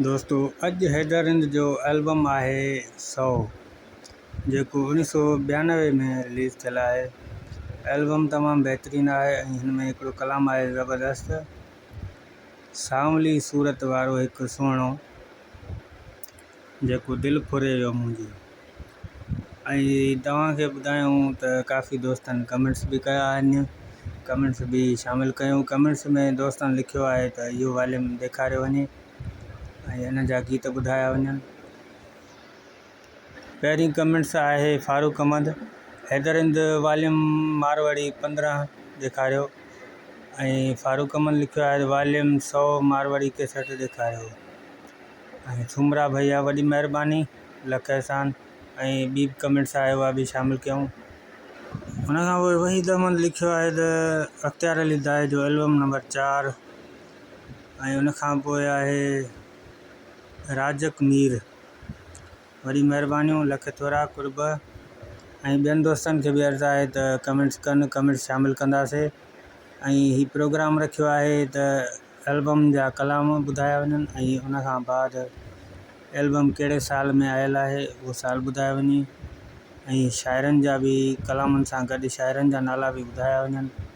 دوستو اڄ حيدر هند جو البم آهي سو جيڪو اوڻيھ سو ٻيانوي ۾ رليز ٿيل آهي البم تمام بهترين آهي ۽ هن ۾ هڪڙو ڪلام آهي زبردست سانولي صورت وارو هڪ سهڻو جيڪو دل ڦري ويو منهنجي ۽ توهان کي ٻڌايون ته ڪافي دوستن ڪمينٽس به ڪيا آهن ڪمينٽس به شامل ڪيون ڪمينٽس ۾ دوستن لکيو آهي ته اهو واليوم ڏيکاريو وڃي ۽ ان جا گيت ٻڌايا وڃن. پهرين ڪمينٽس آهي فاروق احمد حيدر هند واليوم ماروئڙي پندرهن ڏيکاريو ۽ فاروق احمد لکيو آهي واليوم سؤ ماروئڙي ڪيسٽ ڏيکاريو ۽ ٿومرا ڀئيا وڏي مهرباني لک احسان ۽ ٻي به ڪمينٽس آهي اها به شامل ڪيون. ان کان پوء وحيد احمد لکيو آهي ته اختيار علي دائي جو البم نمبر چار ۽ ان کان پوء آهي رازق مير. وڏي مهربانيون لک ٿورا قرب ۽ ٻين دوستن کي به عرض آهي ته ڪمينٽس ڪن ڪمينٽس شامل ڪنداسي ۽ هي پروگرام رکيو آهي ته البم جا ڪلام ٻڌايا وڃن ۽ ان کان بعد البم ڪهڙي سال ۾ آيل آهي اهو سال ٻڌايو وڃي ۽ شاعرن جا به ڪلامن سان گڏ شاعرن جا نالا به ٻڌايا وڃن.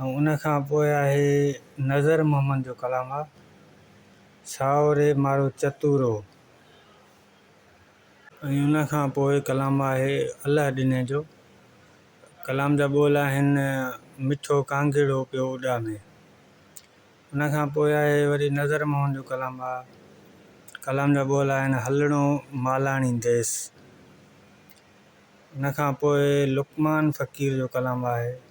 ۽ ان کان پوء آهي نظر محمد جو ڪلام آ سائو ري مارو چتورو ۽ ان کان پوء ڪلام آهي الله ڏني جو ڪلام جا ٻول آهن مٺو ڪانگهڙو پيو اڏامي ان کان پوء آهي وري نظر موهن جو ڪلام آ ڪلام جا ٻول آهن هلڻو مالاڻي ديس ان کان پوء لقمان فقير جو ڪلام آهي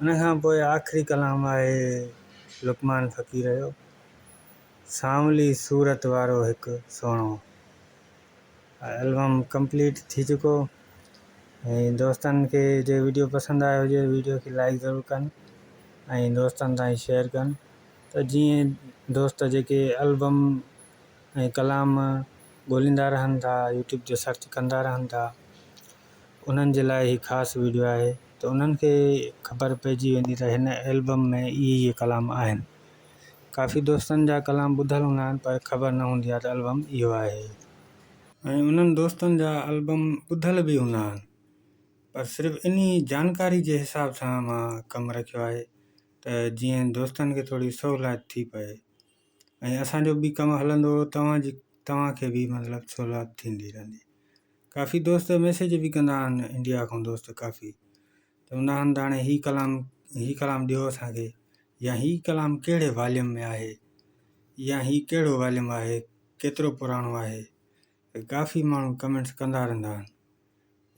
ان کان پوء آخري ڪلام آهي لقمان فقير جو، سانولي صورت وارو هڪ سهڻو. البم ڪمپليٽ ٿي چڪو ۽ دوستن کي جي ويڊيو پسند آيو هجي ويڊيو کي لائڪ ضرور ڪن ۽ دوستن تائين شيئر ڪن ته جيئن دوست جيڪي البم ۽ ڪلام ڳوليندا رهن ٿا يوٽيوب تي سرچ ڪندا رهن ٿا انهن جي لاء هي خاص ويڊيو آهي ته انهن کي خبر پئجي ويندي ته هن البم ۾ اهي اهي ڪلام آهن. ڪافي دوستن جا ڪلام ٻڌل هوندا آهن پر خبر نه هوندي آهي ته البم اهو آهي. ۽ انهن دوستن جا البم ٻڌل به هوندا آهن پر صرف انهي جانڪاري جي حساب سان مان ڪم رکيو آهي ته جيئن دوستن کي ٿوري سهولائت ٿي پئي ۽ اسان جو به ڪم هلندو توهان جي توهان کي به مطلب سهولائت ٿيندي رهندي. ڪافي دوست ميسيج به ڪندا آهن انڊيا کان دوست ڪافي ته هوندا آهن ته هاڻي هي ڪلام هي ڪلام ڏيو اسانکي يا هي ڪلام ڪهڙي واليوم ۾ آهي يا هي ڪهڙو واليوم آهي ڪيترو پراڻو آهي ڪافي ماڻهو ڪمينٽس ڪندا رهندا آهن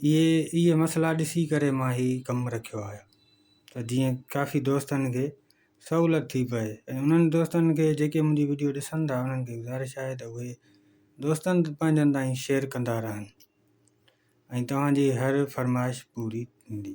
اهي اهي مسئلا ڏسي ڪري مان هي ڪم رکيو آهي ته جيئن ڪافي دوستن کي سهولت ٿي پئي ۽ انهن دوستن کي جيڪي منهنجي وڊيو ڏسن ٿا انهن کي گذارش آهي ته اهي دوستن پنهنجن تائين شيئر ڪندا رهن ۽ توهان جي هر فرمائش پوري ٿيندي.